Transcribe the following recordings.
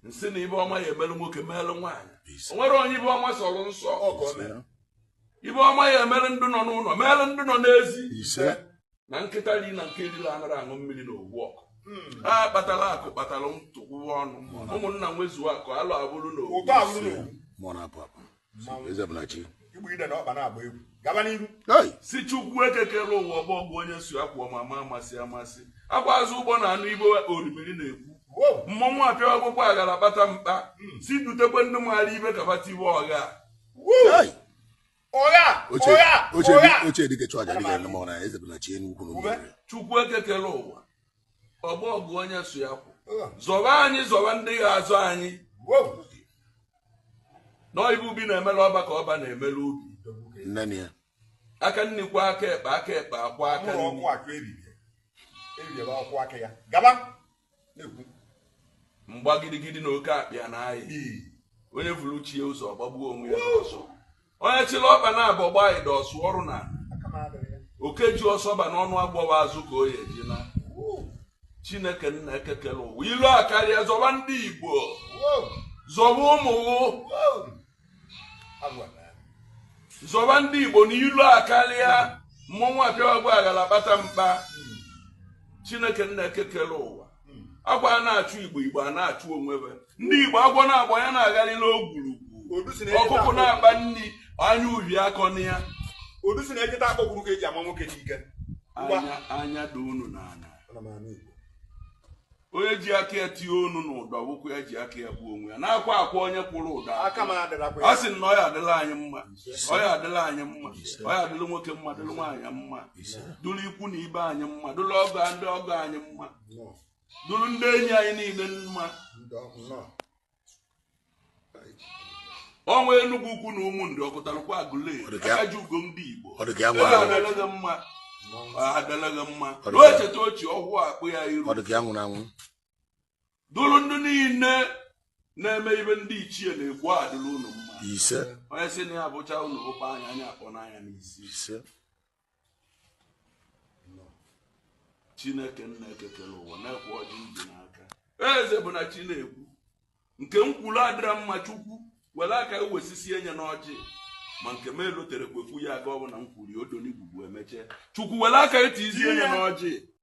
m sị na ive ọma ya emelu nwoke meelụ nwaanyị o nwere onye ive ọma sọrọ nsọ ọgọ mere ive ọma ya emere ndị nọ n'ụlọ meelụ ndị nọ n'ezi ise na nkịta ri na nke erira anaghị aṅụ mmiri na ovu ọkụ hmm. a kpatara akụ kpatara ntụkwụwa ọnụ ụmụnna nwezuo akụ alo abụrụ na ovu igbu ide na ọkpa na-agba egwu gaba n'iru sị chukwu eke kere ụwa ọgbọ ọgụ onye so ya kwụ amama amasị amasị akwa azụ ụgbọ na-anụ ive orimiri na-ekwu mmọnwụ apịa akwụkwọ aghara kpata mkpa hmm. sị dutekwa ndị maara ive kabata ive ọgha chukwu eke kere ụwa ọgbọ ọgụ onye so ya kwụ zọba anyị zọba ndị ya azọ anyị na ive ubi na-emela ọba ka ọba na-emela ubi aka nri kwọọ aka ekpe aka ekpe akwọọ aka nri mgba gidigidi na oke akpịa na ayị onye vuru chi ye ụzọ ọ gbagbuo onwe ya onye chịrị ọba na abọ gbaa ịdọ ọsụ ọrụ na oke ji ọsọ baa n'ọnụ agbọwa azụ ka ọ ya eji naa chineke nna eke kere ụwa ilo akarịa zọba ndị igbo zọba ụmụ zọba ndị igbo na ilo akarịa mmọnwụ apịawa agba aghara kpata mkpa chineke nna eke kere ụwa ọ kwa a na-achụ igbo igbo ana-achụ onwe ve ndị igbo agwọ na-agba ya na-agharị n'ogwurugwu Odu si na ejeta ọkụkụ akpọ- na-akpa nri anya uhie akọna ya Odu si na ejeta akpọ gwuru ka eji ama nwoke n'ike. Ngwa. anya anya daa unu n'ana Ana m anụ Igbo. onye ji aka ya tinye onu n'ụdọ wụkwa ya ji aka ya gbuo onwe ya na-akwa akwa onye kwụrụ ụdọ Aka m adịrakwa a ya. sị na ọ ya adịla anyị mma ọ ya adịla anyị mma ọ ya adịla nwoke mma dịla nwaanyị mma dụrụ ikwu na ibe anyị mma dụrụ ọgọ ndị ọgọ anyị mma dụrụ ndị enyi anyị niile mma ọnwa enugwu ukwu na ụmụnri ọkụtarụkwe aguleri akaji ugo ndị igbo adịla gị mma adịla gị mma na echeta ochie ọhụụ akpụ ya iru dụrụ ndị niile na-eme ive ndị ichie na-ekwu adịla unu mma ise onye sị na ya bụcha unu bụkwa anya anya akpọ n'anya n'isi ise chineke nna eke kere ụwa nekwe ọjị m ji n'aka eze bụ na chi na-ekwu nke m kwuru adịra mma chukwu were aka wesisi enye n'ọjị ma nke m elotere kwekwu ya aga ọ bụ na m kwuru ya odonigwugwu emeche chukwu were aka eti izi enye n'ọjị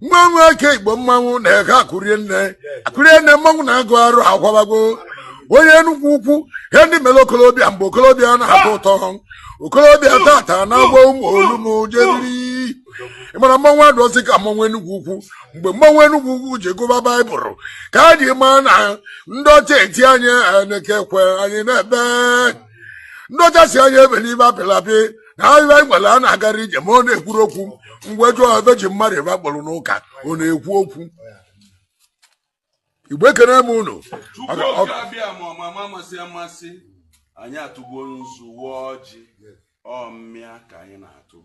nwa nwa eke igbo mmanwụ na-eke akụrie nne akụrie nne mmanwụ na-agụ arụ akwabago onye enugwu ukwu ihe ndị mere okolobịa mgbe okolobịa na-atọ ụtọ okolobịa tata na-agba ụmụ olumu jeriri ị ma na mmanwụ adụọzị ka mmanwụ enugwu ukwu mgbe mmanwụ enugwu ukwu ji gụba baịbụl ka a ji maa na ndị ọcha eti anyị anekekwe anyị na-ebe ndị ọcha sị anyị ebe n'ime apịlapị na ahịhịa anyị nwere a na-agara ije ma ọ na-ekwuru okwu mgbe jụọ ebe ji mmadụ ebe akpọrọ n'ụka ọ na-ekwu okwu igbo ekene m unu Tupu oge abịa ma ọ ma ma amasị amasị anyị atụgo nzu waa ọjị ọ mmịa ka anyị na-atụ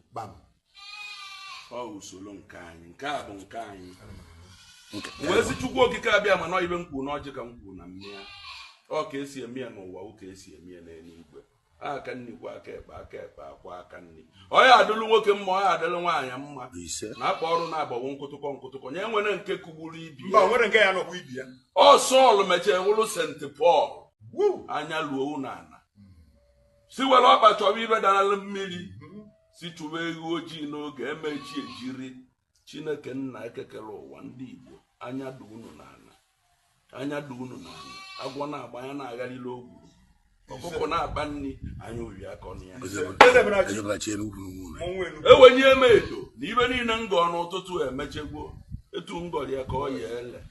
usoro nke anyị nke a bụ nke anyị wee sị chukwu okike abịa mana ife m kwuru n'ọjị ka m kwuru na mmịa ọ ka e si eme ya n'ụwa ọ ka e si eme ya n'eluigwe aka nri kwọọ aka ekpe aka ekpe akwọọ aka nri ọ ya-adịlụ nwoke mma ọ ya-adịlụ nwaanyị mma na akpa ọrụ na-agbawo nkụtụkọ nkụtụkọ nye nwere nke kụgburu ibe ya ọ sọl mechee wụrụ sent pọl anya luo unu ala sị were ọkpa chọwa ife dara mmiri sị chụwa eghu ojii n'oge e mee chi ejiri chineke nna eke kere ụwa ndị igbo anya dị unu n'ala anya dị unu n'ala agwọ na-agba ya na-agharịrị ogwu ọkụkọ na-akpa nri anya oyi akọna ya ewenye m edo na ife niile m gọọ n'ụtụtụ emechego etu m gọrọ ya ka ọ ya-ele